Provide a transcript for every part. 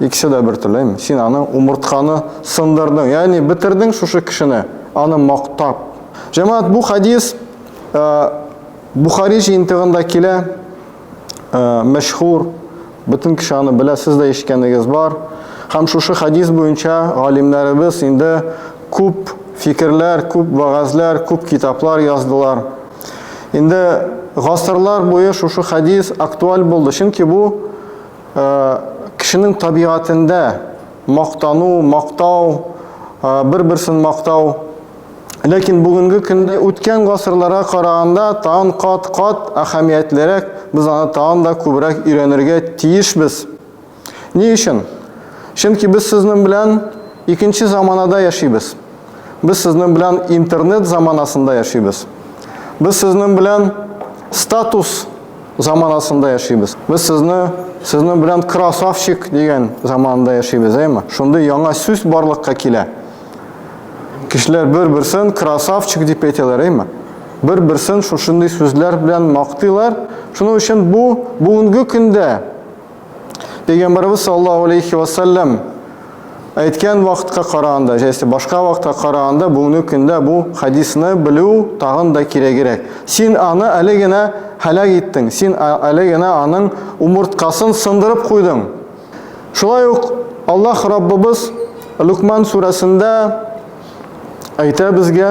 Икесе дә бер теләйм. Син аны умыртканы сындырдың, ягъни бетердең шушы кешене, аны мактап. Җәмәгать, бу хәдис Бухари җыентыгында килә, мәшһүр, бөтен кеше аны белә, сез дә ишеткәнегез бар. Һәм шушы хәдис буенча галимнәребез инде күп фикерләр, күп вәгазьләр, күп китаплар яздылар. Инде гасырлар буе шушы хәдис актуаль булды, чөнки бу Кешенең табигатендә мактану, мактау, бер-берсен мактау. Ләкин бүгенге көндә үткән гасырларга караганда тагын кат-кат әһәмиятлерәк, без аны тагын да күбрәк өйрәнергә тиешбез. Ни өчен? Чөнки без сезнең белән икенче заманада яшибез. Без сезнең белән интернет заманасында яшибез. Без сезнең белән статус заманасында яшибез. Без сезне сезнең белән красавчик дигән заманында яшибез, әйме? Шундый яңа сүз барлыкка килә. Кешеләр бер-берсен красавчик дип әйтәләр, әйме? Бер-берсен шушындый сүзләр белән мактыйлар. Шуның өчен бу бүгенге көндә Пәйгамбарыбыз саллаллаху алейхи ва саллям әйткән вакытка караганда, яисә башка вакытка караганда бүгенге көндә бу хадисны белү тагын да кирәгерәк. Син аны әле генә һәлак иттең, син әле генә аның умырткасын сындырып куйдың. Шулай ук Аллаһ Раббыбыз Лукман сүрәсендә әйтә безгә,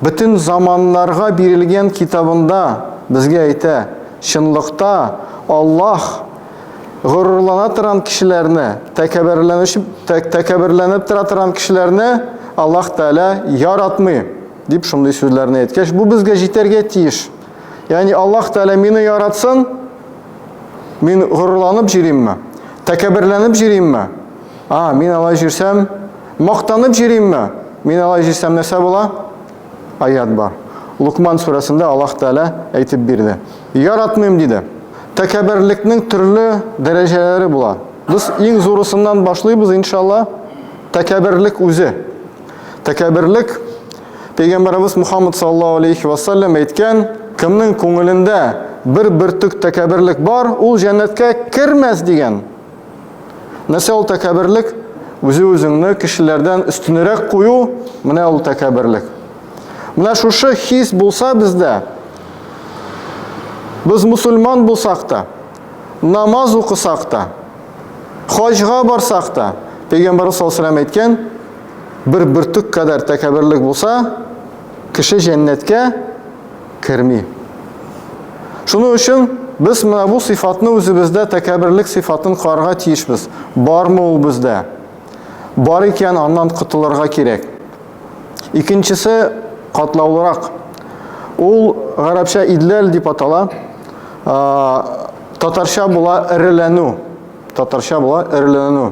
Бөтен заманнарга бирелгән китабында безгә әйтә, чынлыкта Аллаһ горурлана торган кешеләрне, тәкәбберләнеп тора торган кешеләрне Аллаһ Тәгалә яратмый, дип шундый сүзләрне әйткәч, бу безгә җитәргә тиеш. Ягъни Аллаһ Тәгалә мине яратсын, мин горурланып йөримме, тәкәбберләнеп йөримме? А, мин алай җирсәм, мактанып җиримме? Мин алай җирсәм нәрсә була? Аят бар. Лукман сүрәсендә Аллаһ Тәгалә әйтеп бирде. Яратмыйм диде. Тәкәбберлекнең төрле дәрәҗәләре була. Без иң зурысыннан башлыйбыз, иншалла. Тәкәбберлек үзе. Тәкәбберлек Пәйгамбарыбыз Мухаммад саллаллаһу алейхи ва саллям әйткән, кемнең күңелендә бер бөртек тәкәбберлек бар, ул җәннәткә кермәс дигән. Нәрсә ул тәкәберлек? Үзе-үзеңне кешеләрдән өстенерәк кую, менә ул тәкәберлек. Менә шушы хис булса бездә, без мусульман булсак та, намаз укысак та, хаҗга барсак та, Пәйгамбәр саллаллаху алейһи әйткән, бер бөртек кадәр тәкәберлек булса, кеше җәннәткә керми. Шуның өчен без менә бу сыйфатны үзебездә тәкәберлек сыйфатын карарга тиешбез. Бармы ул бездә? Бар икән, аннан котылырга кирәк. Икенчесе катлаулырак. Ул гарәпчә идләл дип атала. Татарча була эреләнү. Татарча була эреләнү.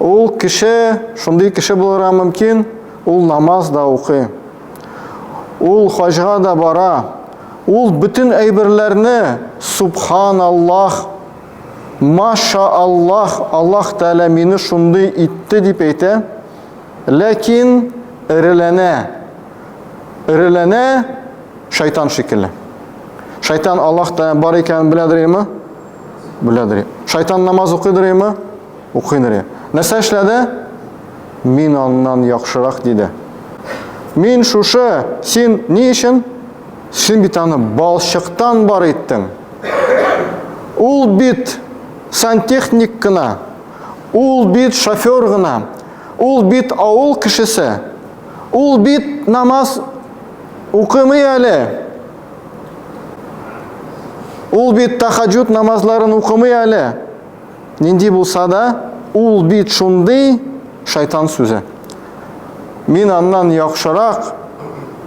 Ул кеше, шундый кеше булырга мөмкин, ул намаз да укый, Ул хаҗга да бара. Ул бөтен әйберләрне субхан Аллаһ, маша Аллаһ, Аллаһ Тәгалә мине шундый итте дип әйтә. Ләкин эреләнә. Эреләнә шайтан шикелле. Шайтан Аллаһ Тәгалә бар икәнен беләдер име? Беләдер. Шайтан намаз укыйдыр име? Укый Нурия. Нәрсә эшләде? Мин аннан яхшырак, диде. Мин шушы, син ни өчен? Син бит аны балчыктан бар иттең. Ул бит сантехник кына, ул бит шофер гына, ул бит авыл кешесе, ул бит намаз укымый әле. Ул бит тахаджуд намазларын укымый әле. Нинди булса да, ул бит шундый шайтан сүзе. Мин аннан яхшырак,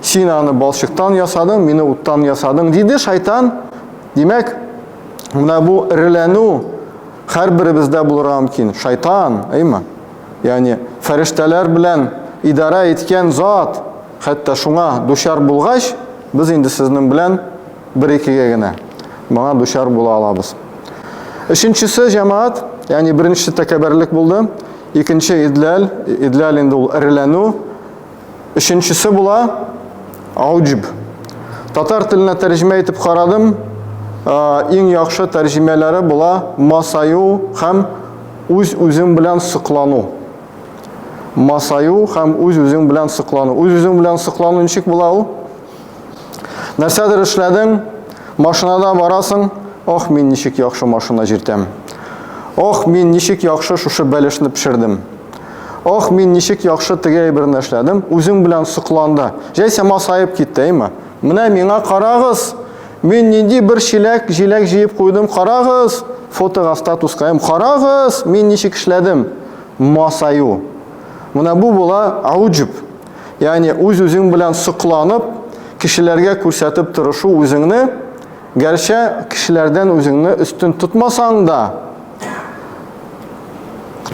син аны балчыктан ясадың, мине уттан ясадың, диде шайтан. Димәк, менә бу эреләнү һәрберебездә булырга мөмкин. Шайтан, әйме? Ягъни фәрештәләр белән идарә иткән зат, хәтта шуңа дучар булгач, без инде сезнең белән бер-икегә генә моңа дучар була алабыз. Өченчесе җәмәгать, ягъни беренчесе тәкәбәрлек булды, икенче идләл, идләл инде ул эреләнү. Өченчесе була ауҗб. Татар теленә тәрҗемә итеп карадым, иң яхшы тәрҗемәләре була масаю һәм үз-үзең белән соклану. Масаю һәм үз-үзең белән соклану. Үз-үзең белән соклану ничек була ул? Нәрсәдер эшләдең, машинада барасың, ох, мин ничек яхшы машина җиртәм. Ох, мин ничек яхшы шушы бәлешне пешердем. Ох, мин ничек яхшы теге әйберне эшләдем, үзең белән сокланды. Җәйсә масаеп китте, әйме? Менә миңа карагыз, мин нинди бер чиләк, җиләк җыеп куйдым, карагыз, фотога, статуска, карагыз, мин ничек эшләдем. Масаю. Менә бу була ауҗуб. Ягъни үз-үзең белән сокланып, кешеләргә күрсәтеп торышу үзеңне, гәрчә кешеләрдән үзеңне өстен тотмасаң да,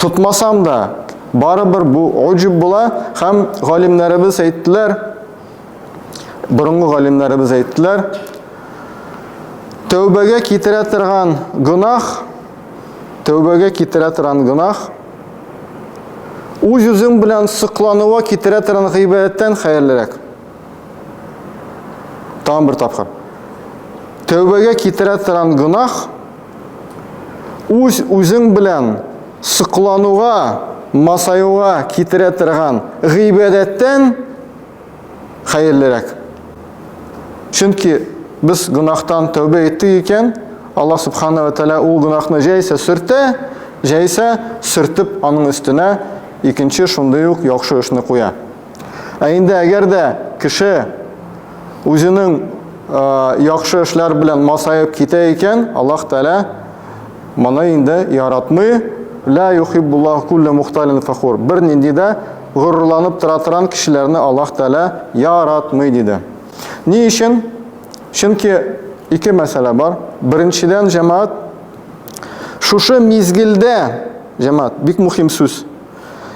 тотмасам да, барыбер бу уҗуб була һәм галимнәребез әйттеләр, борынгы галимнәребез әйттеләр, тәүбәгә китерә торган гөнаһ, тәүбәгә китерә торган гөнаһ Үз-үзең белән соклануга китерә торган гыйбадәттән хәерлерәк. Тагын бер тапкыр. Тәүбәгә китерә торган гөнаһ үз-үзең белән соклануга, масаюга китерә торган гыйбадәттән хәерлерәк. Чөнки без гөнаһтан тәүбә иттек икән, Аллаһ Субхана ва Тәгалә ул гөнаһны җәйсә сөртә, җәйсә сөртеп аның өстенә икенче шундый ук яхшы эшне куя. Ә инде әгәр дә кеше үзенең яхшы эшләр белән масаеп китә икән, Аллаһ Тәгалә моны инде яратмый, ла юхиббуллаһу кулле мухталин фахур. Бер нинди дә Горурланып тора торан кешеләрне Аллаһ Тәгалә яратмый, диде. Ни өчен? Чөнки ике мәсьәлә бар. Беренчедән, җәмәгать, шушы мизгелдә, җәмәгать, бик мөһим сүз.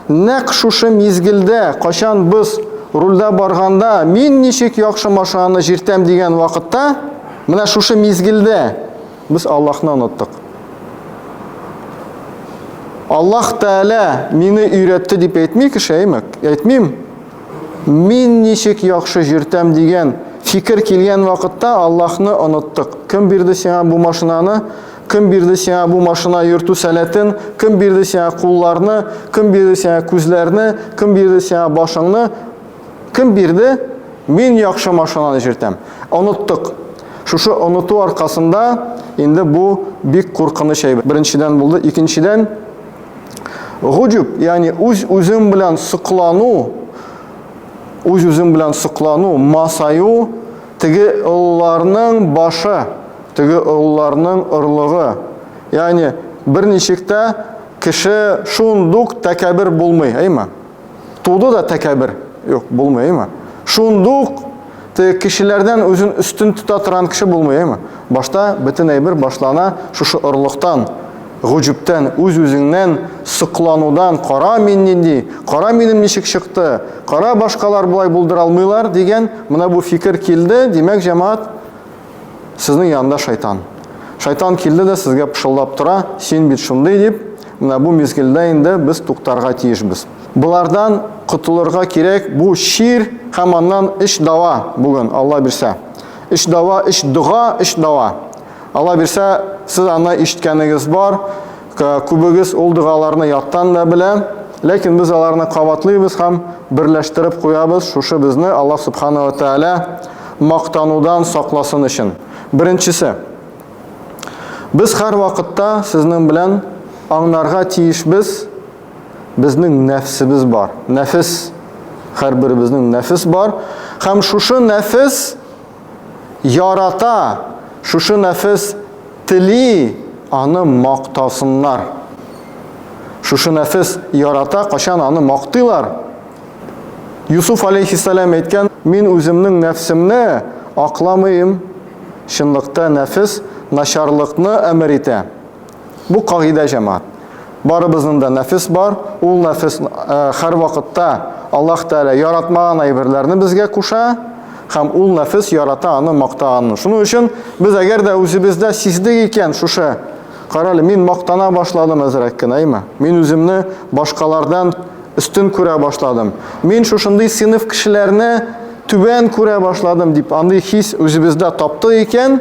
Нәкъ шушы мизгелдә, кайчан без рульдә барганда, мин ничек яхшы машинаны җиртәм дигән вакытта, менә шушы мизгелдә Без Аллаһны оныттык. Аллаһ Тәгалә мине өйрәтте дип әйтми кеше, әйме? Әйтмим. Мин ничек яхшы җөртәм дигән фикер килгән вакытта Аллаһны оныттык. Кем бирде сиңа бу машинаны? Кем бирде сиңа бу машина йөртү сәләтен? Кем бирде сиңа кулларны? Кем бирде сиңа күзләрне? Кем бирде сиңа башыңны? Кем бирде? Мин яхшы машинаны җиртәм. Оныттык. Шушы оныту аркасында инде бу бик куркыныч әйбер. Беренчедән булды, икенчедән гуҗуб, ягъни үз үзем белән соклану, үз үзем белән соклану, масаю, теге олыларның башы, теге олыларның орлыгы. Ягъни берничек тә кеше шундук тәкәбер булмый, әйме? Туды да тәкәбер. Юк, булмый, әйме? Шундук теге кешеләрдән үзен өстен тота торган кеше булмый, әйме? Башта бөтен әйбер башлана шушы орлыктан, гуҗүптән, үз-үзеңнән сокланудан, кара мин нинди, кара минем ничек чыкты, кара башкалар болай булдыра алмыйлар дигән менә бу фикер килде, димәк, җәмәгать Сезнең янында шайтан. Шайтан килде дә сезгә пышылдап тора, син бит шундый дип, менә бу мизгелдә инде без туктарга тиешбез. Болардан котылырга кирәк, бу чир һәм аннан өч дава бүген, Алла бирсә. Өч дава, өч дога, өч дава. Алла бирсә, сез аны ишеткәнегез бар. Күбегез ул догаларны яттан да белә, ләкин без аларны кабатлыйбыз һәм берләштереп куябыз, шушы безне Аллаһ Субхана ва Тәгалә мактанудан сакласын өчен. Беренчесе. Без һәр вакытта сезнең белән аңнарга тиешбез, безнең нәфсебез бар. Нәфес, һәрберебезнең нәфес бар. Һәм шушы нәфес ярата, шушы нәфес тели аны мактасыннар. Шушы нәфес ярата, качан аны мактыйлар. Юсуф алейхиссалам әйткән, мин үземнең нәфсемне акламыйм, чынлыкта нәфес начарлыкны әмер итә. Бу кагыйдә җәмәгать. Барыбызның да нәфес бар, ул нәфес хәр вакытта Аллаһ Тәгалә яратмаган әйберләрне безгә куша, һәм ул нәфес ярата аны мактаганны. Шуның өчен без әгәр дә үзебездә сиздек икән шушы, карале, мин мактана башладым әзрәк кенә, әйме? Мин үземне башкалардан өстен күрә башладым. Мин шушындый сыйныф кешеләрне түбән күрә башладым дип, андый хис үзебездә тапты икән,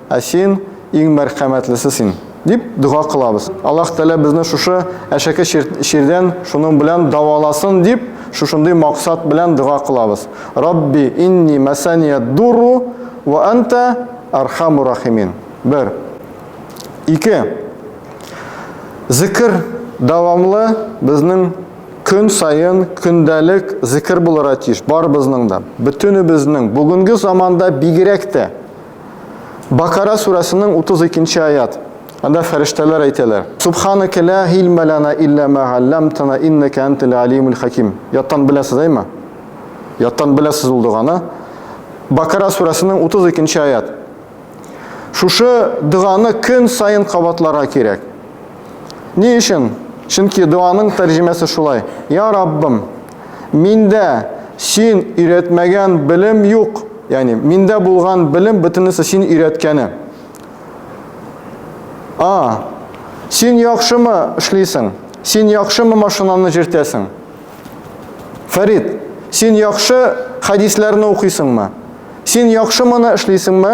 Ә Син, иң мәрхәмәтлесе Син. Дип дога кылабыз. Аллаһ Тәгалә безне шушы әшәке чирдән шуның белән дәваласын дип, шушындый максат белән дога кылабыз. Рабби инни мәсәнияддурру вә әнтә әрхәмур рахимин. Бер. Ике. Зикер дәвамлы безнең көн саен көндәлек зикер булырга тиеш барыбызның да. Бөтенебезнең, бүгенге заманда бигрәк тә. Бакара сүрәсенең 32-нче аят. Анда фәрештәләр әйтәләр. Субханака ла хилма лана илля ма алламтана иннака антал алимул хаким. Яттан беләсез әйме? Яттан беләсез ул доганы. Бакара сүрәсенең 32-нче аят. Шушы доганы көн саен кабатларга кирәк. Ни өчен? Чөнки дуаның тәрҗемәсе шулай. Я Раббым, миндә син өйрәтмәгән белем юк. Ягъни, миндә булган белем бөтенесе син өйрәткәне. А. Син яхшымы эшлисең? Син яхшымы машинаны җиртәсең? Фәрид, син яхшы хәдисләрне укыйсыңмы? Син яхшы моны эшлисеңме?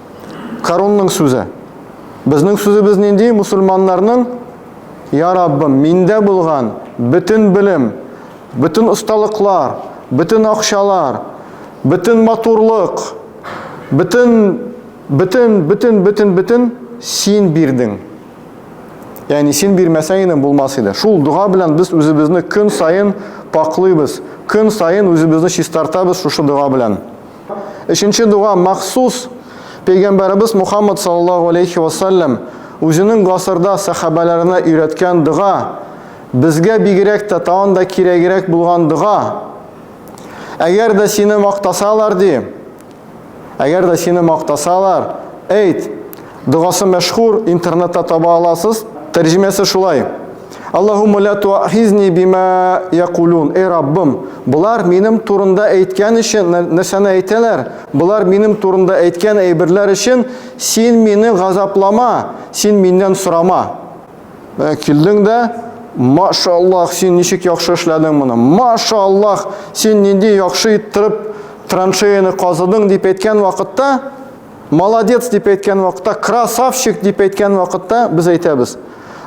Карунның сүзе. Безнең сүзебез нинди? Мусульманнарның Я Раббым, миндә булган бөтен белем, бөтен осталыклар, бөтен акчалар, бөтен матурлык, бөтен бөтен бөтен бөтен бөтен син бирдең. Ягъни син бирмәсәң иде булмас иде. Шул дога белән без үзебезне көн саен паклыйбыз, көн саен үзебезне чистартабыз шушы дога белән. Өченче дуга махсус пәйгамбәребез Мухаммад саллаллаһу алейхи ва саллям үзенең гасырда сахабаларына өйрәткән дуга, безгә бигрәк тә тагын да кирәгрәк булган дуга. Әгәр дә сине мактасалар ди, әгәр дә сине мактасалар, әйт, Догасы мәшһүр, интернетта таба аласыз. Тәрҗемәсе шулай. Аллаһумма ла туахизни бима якулун. Эй Раббым, болар минем турында әйткән өчен нәрсәне әйтәләр? Болар минем турында әйткән әйберләр өчен син мине газаплама, син миннән сорама. Ә килдең дә, машаллах, син ничек яхшы эшләдең моны. Машаллах, син нинди яхшы иттереп траншеяны казыдың дип әйткән вакытта Молодец дип әйткән вакытта, красавчик дип әйткән вакытта без әйтәбез.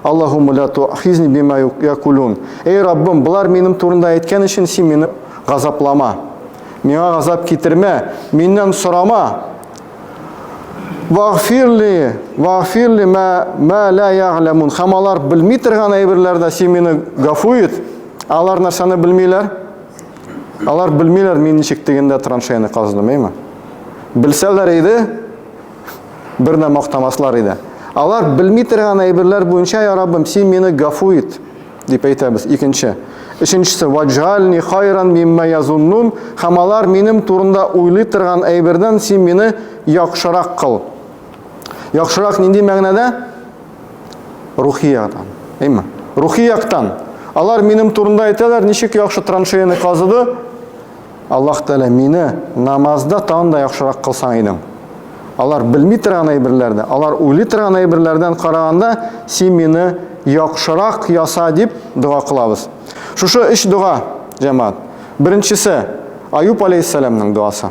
Аллахумма ля тухизни бима якулун. Эй Раббым, болар минем турында әйткән өчен син мине газаплама. Миңа газап китермә, миннән сорама. Вагфирли, вагфирли ма ма ла я'ламун. Хәм алар белми торган әйберләрдә син мине гафу ит. Алар нәрсәне белмиләр? Алар белмиләр, мин ничек тегендә траншеяны казыдым, әйме? Белсәләр иде, бердә мактамаслар иде. Алар белми торган әйберләр буенча, я Раббым, син мине гафу ит, дип әйтәбез. Икенче. Өченчесе, ваджальни хайран мимма язуннун, һәм алар минем турында уйлый торган әйбердән син мине яхшырак кыл. Яхшырак нинди мәгънәдә? Рухи яктан. Әйме? Рухи яктан. Алар минем турында әйтәләр, ничек яхшы траншеяны казыды. Аллаһ Тәгалә мине намазда тагын да яхшырак кылсаң идең. Алар белми торган әйберләрдә, алар уйлый торган әйберләрдән караганда, син мине яхшырак яса дип дога кылабыз. Шушы өч дога, җәмәгать. Беренчесе Аюп алейхиссаламның дуасы.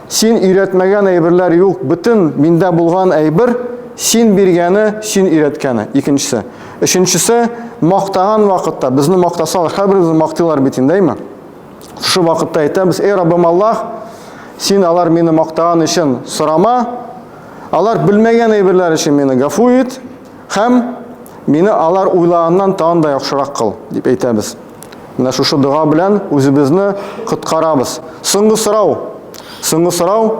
Син өйрәтмәгән әйберләр юк, бөтен миндә булган әйбер син биргәне, син өйрәткәне. Икенчесе. Өченчесе, мактаган вакытта, безне мактасалар, һәрберебезне мактыйлар бит инде, әйме? Шушы вакытта әйтәбез, эй Раббым Аллаһ, син алар мине мактаган өчен сорама, алар белмәгән әйберләр өчен мине гафу ит һәм мине алар уйлаганнан тагын да яхшырак кыл, дип әйтәбез. Менә шушы дога белән үзебезне коткарабыз. Соңгы сорау. Соңгы сорау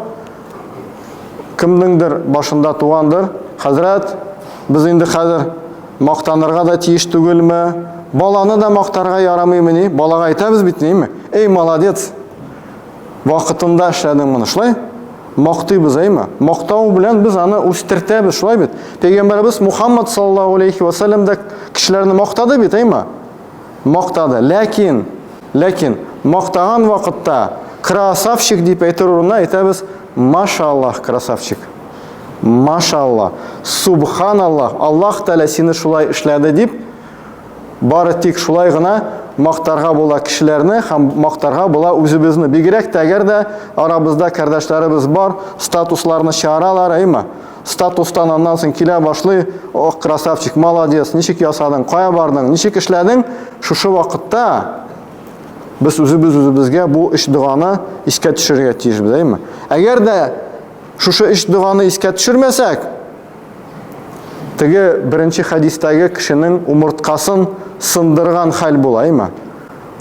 кемнеңдер башында тугандыр. Хәзрәт, без инде хәзер мактанырга да тиеш түгелме? Баланы да мактарга ярамыймы ни? Балага әйтәбез бит, нейме? Эй, молодец! Вакытында эшләдең моны, шулай? Мактыйбыз, әйме? Мактау белән без аны үстертәбез, шулай бит? Пәйгамбәрбез Мухаммад саллаллаһу алейхи ва саллям да кешеләрне мактады бит, әйме? мактады. Ләкин, ләкин мактаган вакытта красавчик дип әйтер урынына әйтәбез машаллах красавчик. Машаллах, субханаллах, Аллаһ Тәгалә сине шулай эшләде дип бары тик шулай гына мактарга була кешеләрне һәм мактарга була үзебезне. Бигрәк тә әгәр дә арабызда кардәшләребез бар, статусларны чыгаралар, әйме? статустан аннан соң килә башлый, ох, красавчик, молодец, ничек ясадың, кая бардың, ничек эшләдең, шушы вакытта без үзебез үзебезгә бу өч доганы искә төшерергә тиеш, әйме? Әгәр дә шушы өч доганы искә төшермәсәк, теге беренче хәдистәге кешенең умырткасын сындырган хәл була, әйме?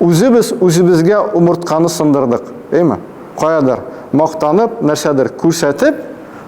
Үзебез үзебезгә умыртканы сындырдык, әйме? Каядыр мактанып, нәрсәдер күрсәтеп,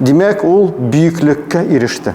Димәк, ул бөеклеккә иреште.